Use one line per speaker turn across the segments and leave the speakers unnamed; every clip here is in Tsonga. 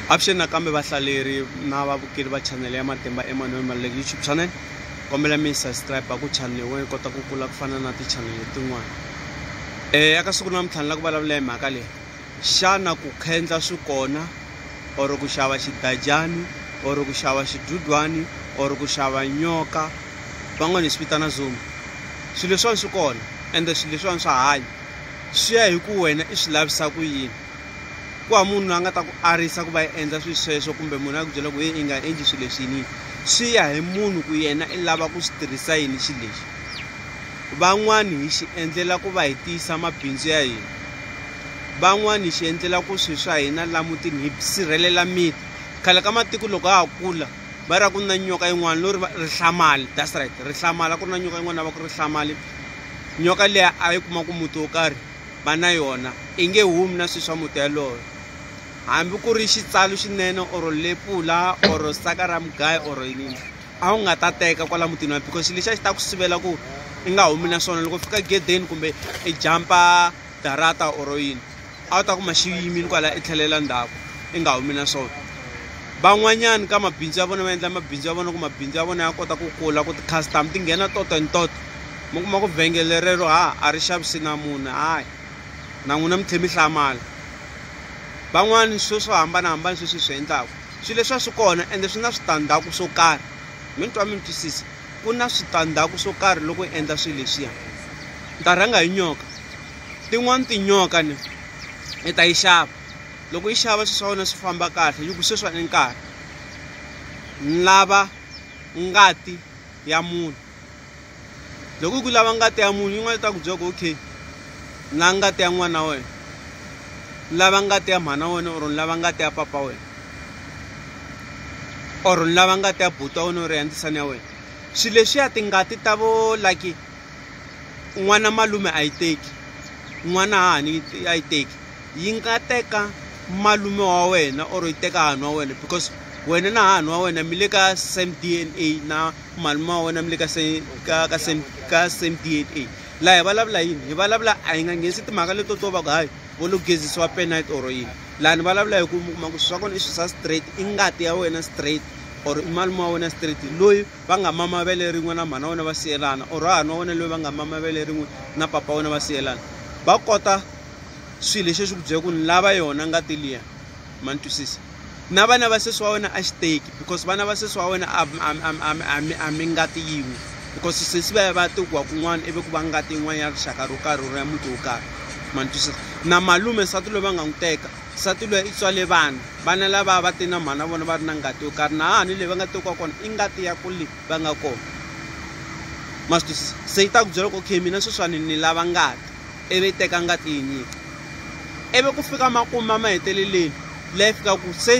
Avuxeni nakambe vahlaleri na vavukeli va chanele ya Matimba Emmanuel Maluleke YouTube channel. Kombela mi subscribe ku chanele wena yi kota ku kula ku fana na tichanele tin'wana. Eh eka siku namuntlha ni lava ku vulavula hi mhaka leyi. Xana ku khendla swi kona or ku xava xidajani or ku xava xidudwani or ku xava nyoka van'wana hi swi vitana zombi. Swilo leswiwani swi kona ende swilo leswiwani swa hanya swi ya hi ku wena i swi lavisa ku yini. ku va munhu la nga ta ku arisa ku va yi endla swilo sweswo kumbe munhu a ku byela ku ye i nga endli swilo leswi yini swi ya hi munhu ku yena i lava ku swi tirhisa yini xilo lexi van'wani hi xi endlela ku va hi tiyisa mabindzu ya hina van'wani hi xi endlela ku swilo swa hina la mutini hi sirhelela miti khale ka matiko loko ha ha kula va ra ku na nyoka yin'wana lo ri rihlamali that's right rihlamali a ku ri na nyoka yin'wana va ku rihlamali nyoka liya a yi kuma ku muti wo karhi va na yona i nge humi na swilo swa muti yaloyo hambi ku ri xitsalu xinene or lepula or saka ra mugayo or yini a wu nga ta teka kwala mutini wa because lexi a xi ta ku sivela ku i nga humi na swona loko fika gedeni kumbe i jampa darata or yini a wu ta kuma xi yimile kwala i tlhelela ndzhaku i nga humi na swona van'wanyana ka mabindzu ya vona va endla mabindzu ya vona ku mabindzu ya vona ya kota ku kula ku ti-customer ti nghena toto and toto. mi kuma ku vhengele rero ha a ri xavisi na munhu hayi na n'wina mi tlhe mi hlamala van'wani swo swo hambanahambana sweswi swi endlaku swilo leswi a swi kona ende swi na switandzhaku swo karhi mi ni twa mi ni twisisa ku na switandzhaku swo karhi loko hi endla swilo leswiya ni ta rhanga hi nyoka tin'wani tinyoka ni i ta yi xava loko yi xava swilo swa wena swi famba kahle yi ku sweswa ni nkarhi ni lava ngati ya munhu loko u ku lava ngati ya munhu yin'wana ta ku byela ku okay la ngati ya n'wana wa wena lava ngati ya mhana wena or ni lava ngati ya papa wena or ni lava ngati ya buti wa wena or ya ndzisana ya wena swilo leswiya tingati ta vo like n'wana malume a yi teki n'wana hahani a yi teki yi nga teka malume wa wena or yi teka hahani wa wena because wena na hahani wa wena mi le ka same D_N_A na. malume wa wena mi le ka ka ka same ka same DNA laha hi vulavula yini hi vulavula a hi nga nghenisi timhaka leto to va ku hayi vo lo gezisiwa penite or yini laha ni vulavula hi ku mi kuma ku swi swa kona i swi swa straight i ngati ya wena straight or i malume wa wena straight loyi va nga mama vele rin'we na mhana wena va siyelana or hahani wa wena loyi va nga mama vele rin'we na papa wena va siyelana va kota swilo leswi swi ku byela ku ni lava yona ngati liya ma ni twisisa na vana va sesi wa wena a xi teki because vana va sesi wa wena a mi ngati yin'we because sesi va ya va ya tekiwa kun'wana ivi ku va ngati yin'wana ya rixaka ro karhi ro ya muti wo karhi ma ni twisisa na malume nsati loyi va nga n'wi teka nsati loyi i tswale vana vana lava va te na mhana vona va ri na ngati yo karhi na hahani leyi va nga tekiwa kona i ngati ya ku le va nga kona ma swi twisisa se yi ta ku byela ku okay mina sweswiwani ni lava ngati ivi yi teka ngati yi nyika. Ivi ku fika makumu ma maheteleleni la yi fika ku se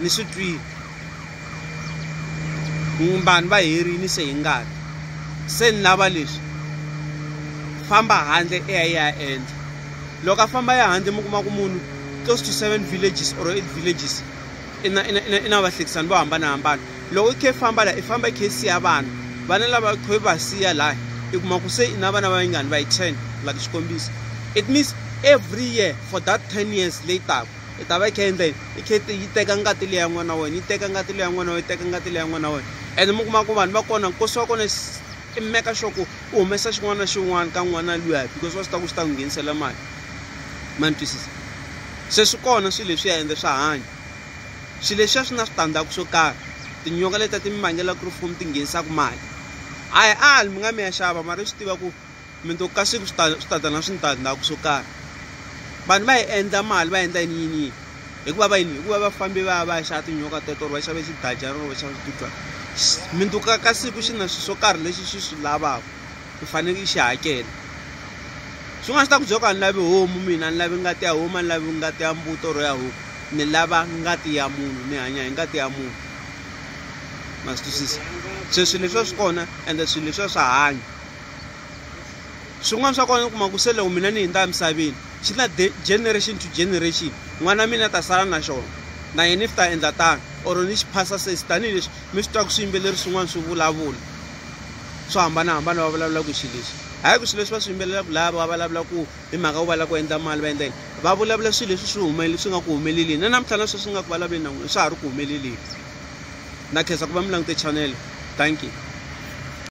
ni swi twile vanhu va herini se hi ngati se ni lava leswi famba handle i ya i ya endla loko a famba ya handle mi kuma ku munhu close to seven villages or eight villages. I na, i na, i na, i na vahlekisani vo hambanahambana. Loko i khe i famba laha, i famba i khe i siya vana. Vana lava i khe i va siya laha, i kuma ku se i na vana va vingani? Va yi ten, like xikombiso. It means every year for that ten years leyi taka, i ta va i khe i endla yini? I khe i yi teka ngati leyi ya n'wana wa wena, yi teka ngati leyi ya n'wana wa wena, yi teka ngati leyi ya n'wana wa wena. Ene mi kuma ku vanhu va kona, nkosi wa kona i meka sure ku u humesa xin'wana na xin'wana ka n'wana luya because wa swi tiva ku xi ta n'wi nghenisela mali. ma ni twisisa se swi kona swilo leswiya ende swa hanya swilo leswiya swi na switandzhaku swo karhi tinyoka leti a ti mi vangela ku ri fumi ti nghenisaka mali a hi ali mi nga mi ya xava mara swi tiva ku mi to ka siku swi ta swi ta ta na switandzhaku swo karhi vanhu va yi endla mali va endla yini yini yini hikuva va yini hikuva va fambi va ya va ya xava tinyoka teto or va xave xidajana or va xava switudyana minduku ka siku xi na swilo swo karhi lexi xi swi lavaka i faneke i xi hakela swin'wana swi ta ku byo ka ni lavi homu mina ni lavi ngati ya huma ni lavi ngati ya mbuto ro ya huku ni lava ngati ya munhu ni hanya hi ngati ya munhu ma swi twisisa se swilo leswiwa swi kona ende swilo leswiwa swa hanya swin'wana swa kona u kuma ku se loko mina ni hundza emisaveni xi na generation to generation n'wana mina ta sala na xona na yena if ta endla tano or ni xi phasa sesi tanihileswi. mi swi twa ku swiyimbeleri swin'wana swi vulavula swo hambanahambana va vulavula ku xilo lexi hayi ku swilo leswi va swi yimbelelaka laya va vulavula ku hi mhaka ku va lava ku endla mali va endla yini va vulavula swilo leswi swi humeleli swi nga ku humelelini na namuntlha na sweswi nga ku vulavuleni na n'wina swa ha ri ku humeleleni na khensa ku va mi langute chanele thank you